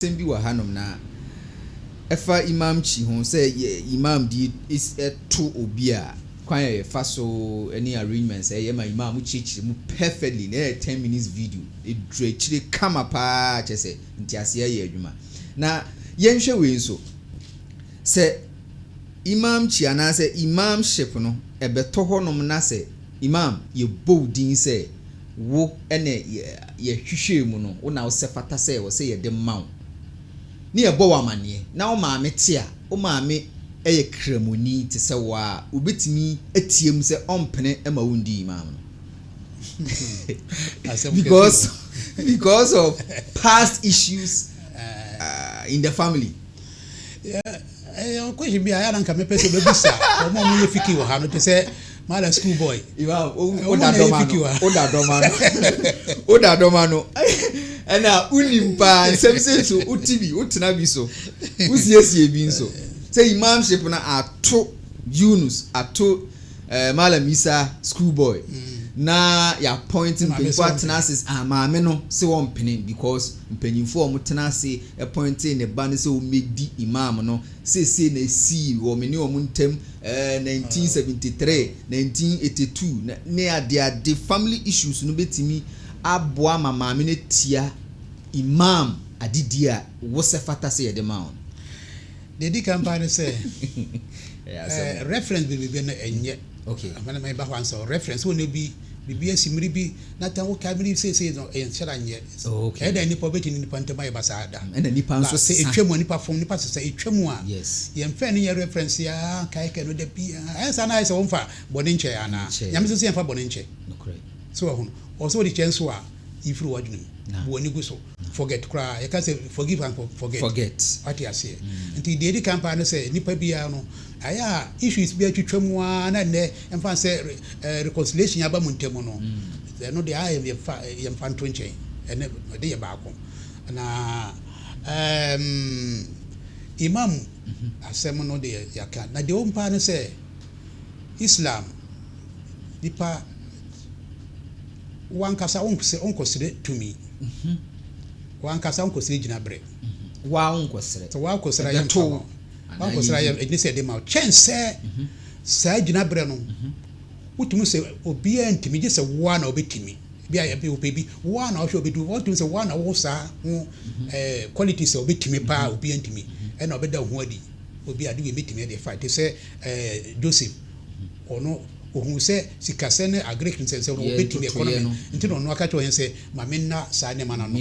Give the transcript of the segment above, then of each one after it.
Asɛm bi wɔ hanom na ɛfa imamchi ho, sɛ yɛ imam di to obi a, kwan a yɛfa so ne arrangements a yɛyɛ ma imam no kyerɛkyerɛ mu perfectly, na ɛyɛ ten minutes video, ɛduru akyire kama pa ara, kyerɛ sɛ nteaseɛ yɛ adwuma. Na yɛnhwɛ wei nso, sɛ imamchi anaa sɛ imamship no ɛbɛtɔ hɔnom na sɛ imam yɛbɔ wo din sɛ Wo ne Yɛ hwehwɛɛ mu no, Wo na Wosɛ fata sɛ wɔ sɛ yɛde ma Wo, ne yɛbɔ Wo amaneɛ. Na Wo maame te a, Wo maame yɛ Kramoni te sɛ Wo ara a, wobɛtumi ateam sɛ ɔmpene ma wonndii Imam no because because of past issues in the family. ɛyɛ question bi a ɛyɛ anka mepɛ sɛ bɛbisa wɔn a wɔyɛ fiki wɔ ha no te sɛ mala school boy woda dɔma no woda dɔma no ɛna wonim paa nsɛm sɛ nso wote bi wotena bi so wosiesie bi nso sɛ imamship no ato yunus ato eh, malam isa school boy mm. na yɛapɔint mpanyinfoɔ atena ase ah, maame no sɛ wɔmpene because mpanyinfoɔ a wɔtena ase appointee ne ba no sɛ ɔmmɛdi Imam no, seesei na ɛsii wɔ me ne wɔn ntam ɛɛ nineteen seventy three, nineteen eighty two, na ne adeade family issues no bɛtumi aboa ama maame no atia Imam adedie a wosɛ fata sɛ yɛde ma wo no. Deɛ ɛdi kan paa ne sɛ, reference bi biribi no ɛnyɛ amena mɛba hɔ ansa o reference wo ne bi biribi asi mmiri bi na tan wo kae mmiri bi seesei no ɛyɛ nhyɛra nyɛ ɛyɛ dɛ nipa ɔbɛtumi ne nipa ntam ayɛ ba saa da ɛna nipa nso sɛ ɛtwa mu a nipa fom nipa sesa ɛtwa mu a yɛn fɛn no nyɛ reference a kae kae no da bi a ɛyɛ saa na ayɛ sɛ wɔn fa bɔne nkyɛ anaa nyame sɛ sɛ yɛn fa bɔne nkyɛ so ɔhono ɔsɛ wɔde kyɛ nso a yifiri wɔ adwene mu bu wɔ ani gu so Forget koraa. Yɛka sɛ forgive and forget. Forget. Wate aseɛ. Nti deɛ ɛdi kan paa ne sɛ nipa biara no, ayɛ a issues bi atwitwa mu ara na nnɛ ɛmfa no sɛ reconciliation aba mo ntam no, ɛno deɛ ayɛ yɛmfa yɛmfa nto nkyɛn. Ɛno ɛde yɛ baako. Na ɛɛm Imam asɛm no deɛ yɛaka. Na deɛ ɛwɔ mu paa ne sɛ Islam. nipa wankasa wonkɔsrɛ tumi, wankasa wonkɔsrɛ gyinaberɛ, waa wonkɔsrɛ, sɛ waa kɔsrɛ yɛ mfa ma, waa kɔsrɛ yɛ ɛdini sɛ ɛde ma, kyɛn sɛ saa gyinaberɛ no wotumi sɛ obiara ntumi gye sɛ waa na wobɛtumi bi a yɛbi wopɛ bi waa na wohwɛ wobɛdu wɔntumi sɛ waa na wo saa ho ɛɛ quality sɛ wobɛtumi paa obiara ntumi ɛna wobɛda ho adi obi ade wei mɛtumi ɛde fa te sɛ ɛɛ Joseph Ɔno ohun sɛ sikasɛm ne Agric nsɛnsɛm no wɔbɛdi ne ɛkɔnɔmi nti na ɔno aka kyerɛ ɔhene sɛ ma me nna saa nneɛma no ano.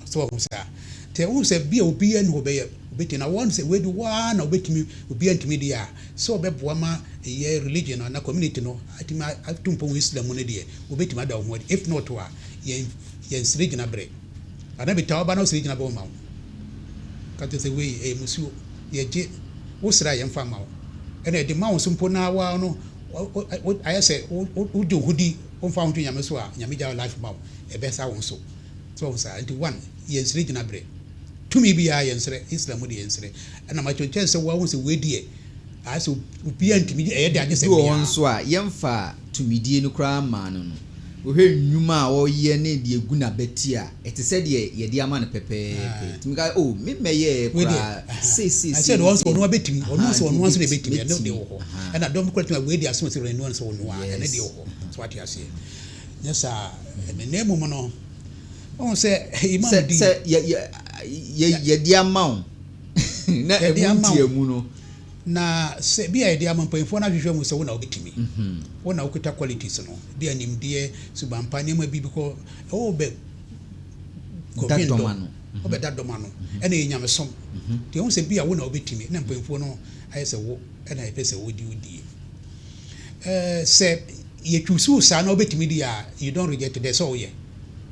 Sɛ wahu saa nti a wohu sɛ bia obiara nni hɔ ɔbɛyɛ ɔbɛtumi na wɔn sɛ wei de wo ara na ɔbɛtumi obiara ntumi deɛ a sɛ ɔbɛboa ma ɛyɛ religion anaa community no atumi ato mpɔn wɔ Islam mu no deɛ wɔbɛtumi ada wɔn ho adi if not a yɛn yɛn srɛ gyina berɛ. Anaa metaa wo ba na wosɛ gyina bɛn ma wo ka kyerɛ sɛ wei ɛyɛ musuo yɛ gye wo srɛ a yɛn fa ma wo ɛna ɛde ma wo so mpo na wa no ayɛ sɛ wo de wo ho di wo nfa wo ho to nyame so a nyame gya life ma wo ɛbɛ sa wo so so wo saa nti one yɛ nsrɛ gyina berɛ tumi biara yɛ nsrɛ Islam mu de yɛ nsrɛ ɛna ma kyɛnkyɛn sɛ wa wo sɛ wei deɛ Bi wɔ hɔ nso a, yɛmfaa tumidie no koraa mmaa no no. Wohwɛ nnwuma a ɔyɛ ne deɛ ɛgu n'abati a, ɛte sɛ deɛ yɛde ama no pɛpɛɛpɛ. Ɛtumi ka sɛ, Oh, me mmɛyɛɛ koraa seisei, sei ne sei. Aha, nti wobɛtumi, mɛtumi. Aha. Yes. Aha. Sɛ, sɛ yɛ, yɛ, yɛ, yɛde ama wo. na ɛmu nteamu no. Na sɛ bi a yɛde ama mpanyinfoɔ no ahwehwɛ mu sɛ wo na wobɛtumi, wo na wokita qualities no, bi a nimdeɛ, suban pa, nneɛma bi bikɔ, ɛwɔ wo bɛ kɔdwen dɔ, wo bɛ da dɔm ano, ɛna yɛ nyamesom. Nti ɛho sɛ bi a wo na wobɛtumi, na mpanyinfoɔ no ayɛ sɛ wo ɛna yɛpɛ sɛ wodi wodie. Sɛ yɛ choose wo saa na wobɛtumi di a, you don't reject it, ɛsɛ sɛ woyɛ.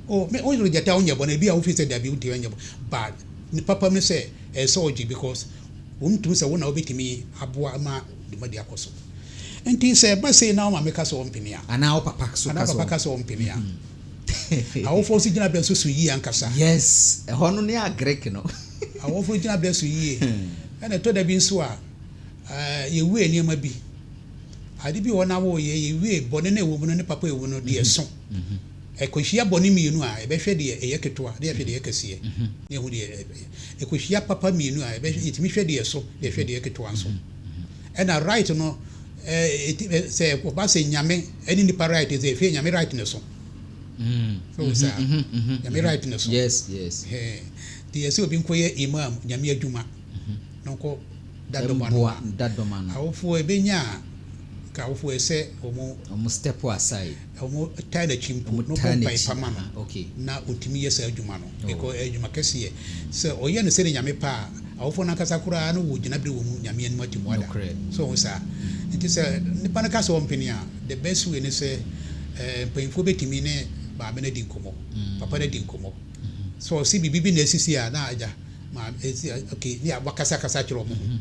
O, me, wo reject a wonyɛ bɔne, bi a wofiri sɛ dabi wonti ɛnyɛ bɔne, but ne papam ne sɛ ɛnsɛ ɔgye because ɔntumi sɛ wo na wobɛtumi aboa ama dwumadi akɔ so. Nti sɛ ɛba sei na wo maame ka sɛ ɔmpene a. Anaa wo papa so ka sɛ ɔmpene a. Anaa wo papa ka sɛ ɔmpene a. Awofoɔ nso gyinabea nso so yie ankasa. Yes, ɛhɔ no ne agrek no. Awofoɔ gyinabea so yie. Ɛna ɛtɔ da bi nso a, yɛwie nneɛma bi. Ade bi wɔ hɔ na woyɛ, yɛwie, bɔne no a ɛwɔ mu no ne papa a ɛwɔ mu no deɛ ɛso. Ɛkɔhyia bɔne mmienu a, yɛbɛhwɛ deɛ ɛyɛ ketewa na yɛahwɛ deɛ ɛyɛ kɛseɛ, na yɛahu deɛ ɛyɛ. Ɛkɔhyia papa mmienu a, yɛbɛhwɛ, yɛtumi hwɛ deɛ ɛso na yɛhwɛ deɛ ɛyɛ ketewa nso. Ɛna right no, ɛɛ, sɛ wɔba sɛ Nyame ne nnipa right sɛ ɛfie, Nyame right na ɛso. So wo saa? Nyame right na ɛso. Ɛhɛɛ. Nti yɛ sɛ obi nkɔyɛ Imam, Nyame adwuma, na ɔnkɔ da dɔm ano a, awofoɔ ɛbɛnya a, nka awofoɔ ɛsɛ wɔn. Wɔn step aside. Wɔtaa n'akyi mpo na ɔbɔ mpae pa ma no, na otumi yɛ saa adwuma no. Ɛyɛ adwuma kɛseɛ. Sɛ ɔyɛ no sɛdeɛ Nyame pɛ a, awofoɔ no ankasa koraa no wɔ gyinaberɛ wɔ mu Nyame anim atemmuada. So wohu saa? Nti sɛ nipa no ka sɛ ɔmpene a, the best way ne sɛ mpaninfoɔ bɛtumi ne maame no adi nkɔmmɔ, papa no adi nkɔmmɔ. Sɛ ɔse biribi bi na asisi a, na agya, maame, ok, ne wakasakasa akyerɛ wɔn ho.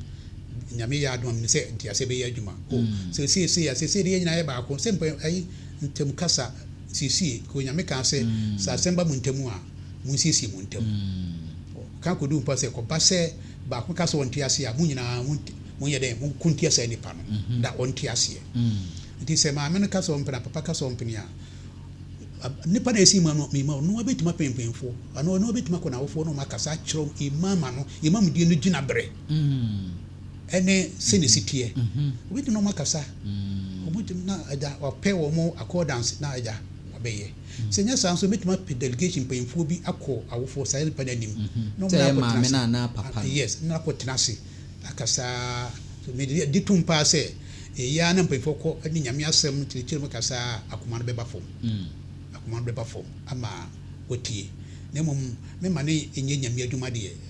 Nyame yɛ adom a menim sɛ nteaseɛ bɛyɛ adwuma o seesei sei a seesei deɛ yɛn nyinaa yɛ baako sɛ mpa ayi ntam kasa siesie kɔ Nyame kaa sɛ sɛ asɛm ba mo ntam a monsiesie mo ntam o ka kɔdu mpo sɛ kɔba sɛ baako ka sɛ ɔnte aseɛ a mo nyinaa mo monyɛ dɛn mo ko ntia saa nipa no na ɔnte aseɛ nti sɛ maame no ka sɛ ɔmpene a papa ka sɛ ɔmpene a nipa na ɛsi ma no mema ɔno abɛtumi apɛmpɛnfoɔ anaa ɔno abɛtumi akɔ n'awofoɔ na ɔma akasa akyerɛ imam ano imam deɛ no gyina berɛ ne sɛnea esi teɛ. Wobɛtumi ne wɔn akasa, wɔbɛtumi na agya wapɛ wɔn accordance na agya wabɛyɛ. Sɛ ɛnyɛ saa nso, mɛtumi apɛ delegation mpanyinfoɔ bi akɔ awofoɔ saa nipa no anim na wɔn nyinaa akɔ tena ase. Yes, na akɔ tena ase akasa. So me de gye tom paa sɛ ɛyɛ ara na mpanyinfoɔ kɔ ne Nyame asɛm no kyerɛkyerɛ mu kasa a, akoma no bɛba fam. Akoma no bɛba fam ama wɔatie. Na mmom mema no nyɛ Nyame adwuma deɛ.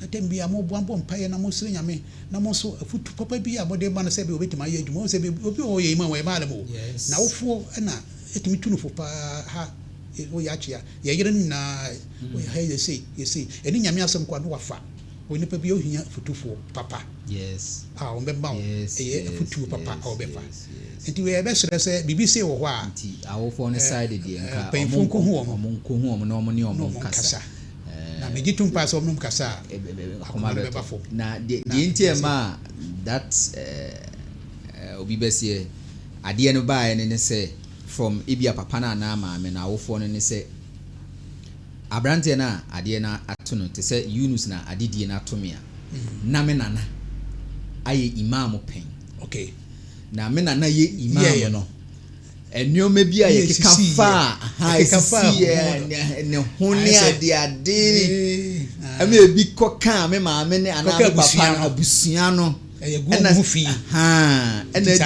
Na da biara moboa bɔ mpaeɛ na mosrɛ Nyame na mo nso afutu papa bi a mode ma no sɛ ebia ɔbɛtumi ayɛ adwuma. Wohu sɛ bi obi wɔ hɔ ɔyɛ yima wɔyɛ maale mo na awofoɔ na ɛtumi tu no fo paa ha woyɛ akyea yɛ yere no nyinaa woyɛ ha yɛ sei yɛ sei ɛne Nyame asɛm koraa na wafa wɔ nipa bi ohia afutufoɔ papa a wɔn bɛma wo ɛyɛ afutuo papa a wɔbɛfa nti wɔyɛ bɛsrɛ sɛ biribi sei wɔ hɔ a nti awofoɔ no side deɛ nka mpanyinfoɔ nkohu wɔn ɔmo nkohu wɔn na ɔmo ne ɔmo nkasa Na megye tom paa sɛ wɔnom kasa a, akoma no bɛba fam. Na deɛ nti a ɛmaa that obi bɛseɛ adeɛ no baeɛ no ne sɛ, from ebia papa no anaa maame no, awofoɔ no, ne sɛ, aberanteɛ no a adeɛ no ato no, te sɛ Yunus na adedie no ato me a, na me nana ayɛ Imaam pɛn. Na me nana yɛ Imaam no. Nneɛma bi a yɛkeka faa ha a ɛsisiiɛ, ne ho ne adeade. Ɛma ebi kɔkaa me maame ne anaa me papa no abusua no. Ɛna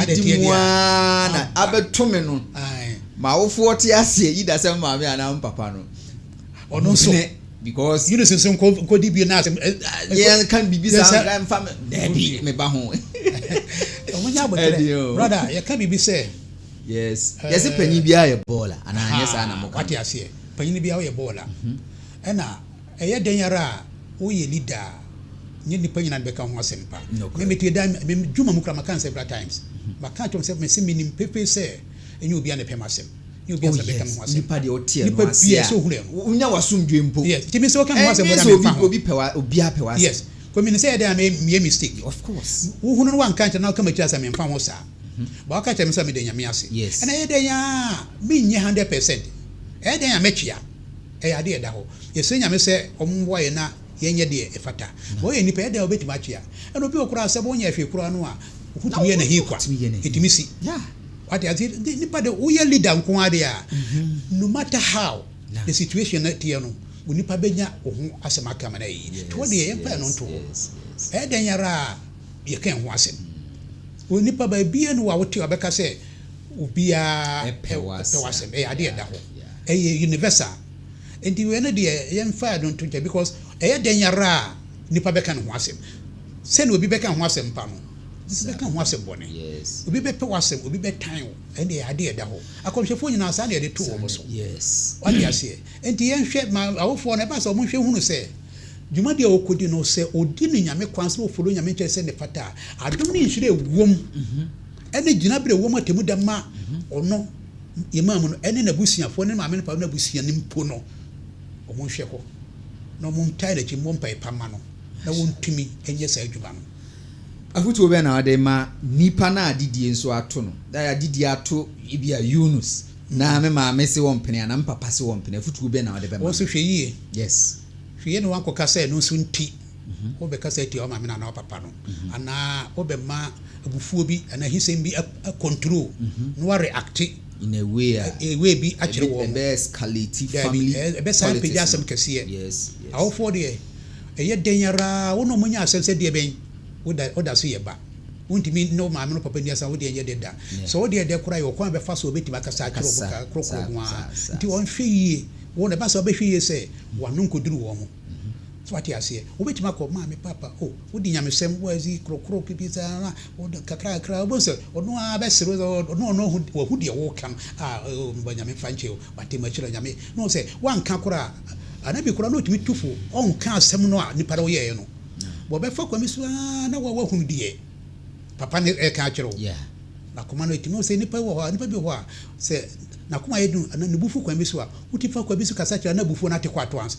adidi mu ara na abɛto me no. M'awofoɔ te aseɛ, Yuda sɛ me maame anaa me papa no. ɔno nso ne because Eunice nso nko nko di bi na asem eh, eh, yɛn kan bibi sa nka mfa me dabi me ba ho ɔmo nya abotere brother yɛ ka bibi sɛ yes eh, yɛsɛ panyin biara yɛ bɔɔla anaa nyɛ saa na mo ka wate aseɛ panyin biara yɛ bɔɔla mhm. ɛna ɛyɛ dɛn yara a woyɛ leader a nye nipa nyinaa de bɛka ho asɛm pa ne metue da dwuma mu kora maka nsɛ bra times mhm. maka kyerɛ sɛ mese menim pefee sɛ ɛnyɛ obia ne pɛm asɛm Oh yes, nipa deɛ ɔteɛ no Nipa ase biara a, sɛ ohunu ɛho. wo- wonya w'asomdwoe mpo. Yes, nti me nso ka me ho asɛm Ɛnyɛ brother sɛ obi memfa ho. obi pɛ wa obiara pɛ w'asɛm. Yes, cause menim sɛ ɛyɛdɛn a mɛyɛ meyɛ mistake. Of course. Wohunu no woanka ankyerɛ na woka m'akyiri asɛm memfa ho saa. But woaka kyerɛ me nso a meda Nyame ase. Yes. Ɛna ɛyɛ dɛn ara a menyɛ hundred percent. Ɛyɛ dɛn a mɛtwea. Ɛyɛ ade a ɛda hɔ. Yɛsrɛ Nyame sɛ ɔmmoa yɛn na yɛnyɛ deɛ ɛfata. Ma ɔyɛ nnipa, ɛdɛn a ɔbɛtumi akyea? Ɛna obi wɔ hɔ koraa a, sɛ bɔnyɛ hwee koraa no a, wotumi yɛ no ahi kwa. Ɛtumi si. Wate aseɛ? Nti, nnipa deɛ, woyɛ leader nko ara deɛ a, no matter how the situation no teɛ no, wo nnipa bɛnya wo ho asɛm aka ama no ayɛ yie. Nti, hɔ deɛ, yɛmfa yɛn ano nto hɔ. Ɛyɛ dɛn ara a, yɛka yɛn ho asɛm. Wo nnipa, baabiara nni hɔ a wote a wɔbɛka sɛ obiara pɛ w'asɛm. Ɛyɛ adeɛ a ɛda hɔ. Ɛyɛ universal. Nti wei no deɛ yɛmfa no nto gya because ɛyɛ dɛn ara a nipa bɛka ne ho asɛm. Sɛnea obi bɛka ho asɛm pa no, obi bɛka ho asɛm bɔne. Obi bɛpɛ w'asɛm, obi bɛtan wo. Ɛnde ɛyɛ ade a ɛda hɔ. Akɔmhyɛfoɔ nyinaa saa na yɛde too wɔn so. Wate aseɛ? Nti yɛnhwɛ ma awofoɔ no, ɛba saa a wɔnhwɛ nhunu sɛ dwumadi a ɔkɔdi no, sɛ ɔdi no Nyame kwan so na ɔfollow Nyame nkyerɛ sɛnea ɛfata a, adom ne nhyira a ɛwom, ɛne gyinaberɛ a ɛwom, atemmuda ma ɔno. yɛmaa mu no, ɛne n'abusuafoɔ, ɛne ne maame ne papa no abusua no mpo no, wɔnhwɛ hɔ, na wɔntaa n'akyi mmɔ mpaeɛ pa mma no, na wɔntumi nyɛ saa adwuma no. Afotuo bɛn na wode ma nipa no a adidie nso ato no? Daae adidie ato ebia Yunus, na me maame se wɔmpene anaa me papa se wɔmpene. Afotuo bɛn na wode bɛma no? Wɔn nso hwɛ yie. Yes. Hwɛ yie na wɔankɔka sɛ ɛno nso nti. Wobɛkasa atia wo maame no anaa wo papa no, anaa wobɛma abufuo bi anaa ahisɛm bi acontrol na woareacte in a way a a way bi akyerɛ wɔn. ɛbɛ escalate Daabi, family ɛ- ɛbɛsan apagya politics no. asɛm kɛseɛ. Yes, yes. Awofoɔ deɛ, ɛyɛ dɛn ara wo ne wɔn anya asɛm sɛ deɛ bɛn, woda woda so yɛ ba. Wontumi ne wo maame ne wo papa nni asɛm a wodeɛ nyɛ dɛ da. Yeah. Sɛ wodeɛ dɛ koraa a, yɛwɔ kwan a bɛfa so a wobɛtumi akasa akyerɛ wɔn Akasa, ka korɔkorɔ saa, ho ara. saa, saa, Nti saa. wɔnhwɛ yie. Wɔn, ɛba saa a wobɛhwɛ yie sɛ w'ano nkɔduru wɔn. So wate aseɛ? Wobɛtumi akɔ, Maame, Papa, o, wodi nyamesɛm, woadzi korokoro kɛkɛ saa ara, wode kakra kakra, wobɛhu sɛ ɔno ara bɛsere wo, ɔ, ɔno, ɔno ahu, wahu deɛ woreka no, a, o, meba Nyame mfa nkyɛ o, wate, mahyira Nyame, na ɔhu sɛ woanka koraa. Anabi koraa na ɔtumi tu fo, ɔnka asɛm no a nipa no yɛeɛ no. Wɔbɛfa kwan bi so ara na wo a woahunu deɛ Papa no reka akyerɛ wo. Yeah. N'akoma no ɛtumi, sɛ nipa wɔ hɔ a, nipa bi wɔ hɔ a, sɛ n'akoma yɛ duru anaa ne bo fu kwan bi so a, wotu fa kwan bi so kasa kyerɛ no na abufuo no ate kɔ ato ansa.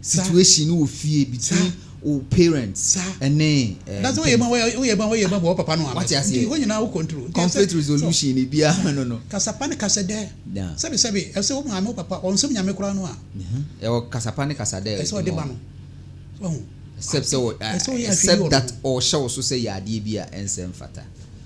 situation no wɔ fie between wo parents ɛne mpanyinfoɔ wate aseɛ conflict resolution ne biara no no kasapa ne kasadɛ sɛbi sɛbi ɛsɛ wo maame wo papa wɔn nsɛm nyame koraa no a ɛwɔ kasapa ne kasadɛ ɛsɛ ɔde ba no except sɛ except that ɔhyɛ wo so sɛ yɛ adeɛ bi a ɛnsɛ mfata.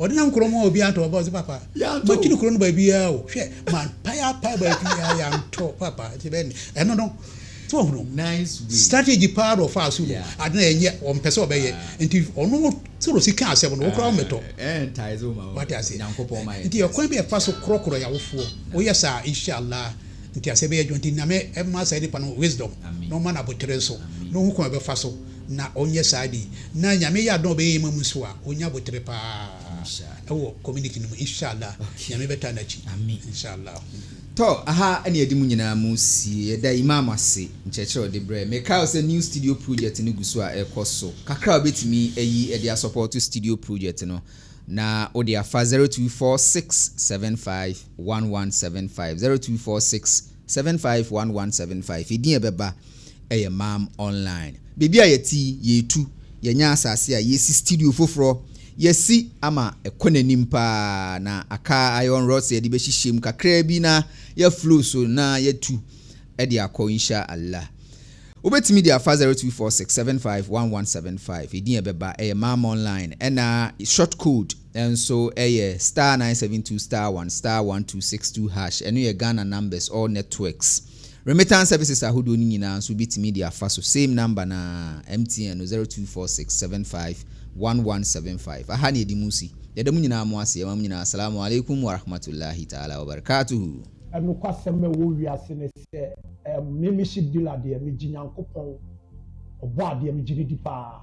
Ɔde nam kuro mu a obiara ntɔ ɔba ɔsɛ papa makyiri kuro no baabiara o hwɛ mampae apae baabiara yɛantɔ papa nti bɛn ɛno no tí wọ́n hunu strategy paa na ɔfa aso no ade na ɛnyɛ ɔmpɛ sɛ ɔbɛyɛ nti ɔno soro si ka asɛm no wokora wɔn mɛtɔ wate ase nti ɛkwan bi ɛfa so korɔkorɔ yawofoɔ woyɛ saa inshallah nti asɛ bɛyɛ adwuma nti nyame ɛma saa nipa no wisdom na ɔma no abotere nso na ɔhu kwan bɛfa so na ɔnyɛ saa de, na Nyame yɛ adom a ɔbɛyɛ yɛn ma mu nso a, ɔnya aboterɛ paa wɔ community no mu, inshallah, Nyame bɛtaa no akyi, inshallah. Tɔ, aha na yɛde mo nyinaa mu sie. Yɛda Imam ase nkyerɛkyerɛ a ɔde brɛɛ. Mekae wo sɛ new studio project no gu so a ɛkɔ so. Kakra a wobɛtumi ayi de asɔpɔɔto studio project no, na wode afa 0246751175, 0246. Seven five one one seven five edin a ɛbɛba yɛ Mam Online. Baabi a yɛte yi, yɛretu. Yɛanya asase a yɛresi studio foforɔ. Yɛasi ama ɛkɔ n'anim pa ara, na aka iron rods a yɛde bɛhyehyɛ mu kakraa bi na yɛaflow so na yɛatu de akɔ Insha Allah. Wobɛtumi de afa zero two four six seven five one one seven five edin a ɛbɛba yɛ Mam Online ɛna short code. nso yɛ star nine seven two star one star one two six two hash, ɛno yɛ Ghana numbers all networks remittance services ahodoɔ no nyinaa nso wobɛtumi de afa so same number no ara MTN no zero two four six seven five one one seven five aha na yɛde mu si yɛda mo nyinaa mo ase yɛma mo nyinaa Assalaamu alaikum warahmatullahi ta'ala wabarakatuhu. Nokwasɛm a ɛwɔ wiase ne sɛ, ɛɛm, me, me hyɛ deal a deɛ megye Nyankopɔn, Ɔbɔadeɛ, megye no di paa.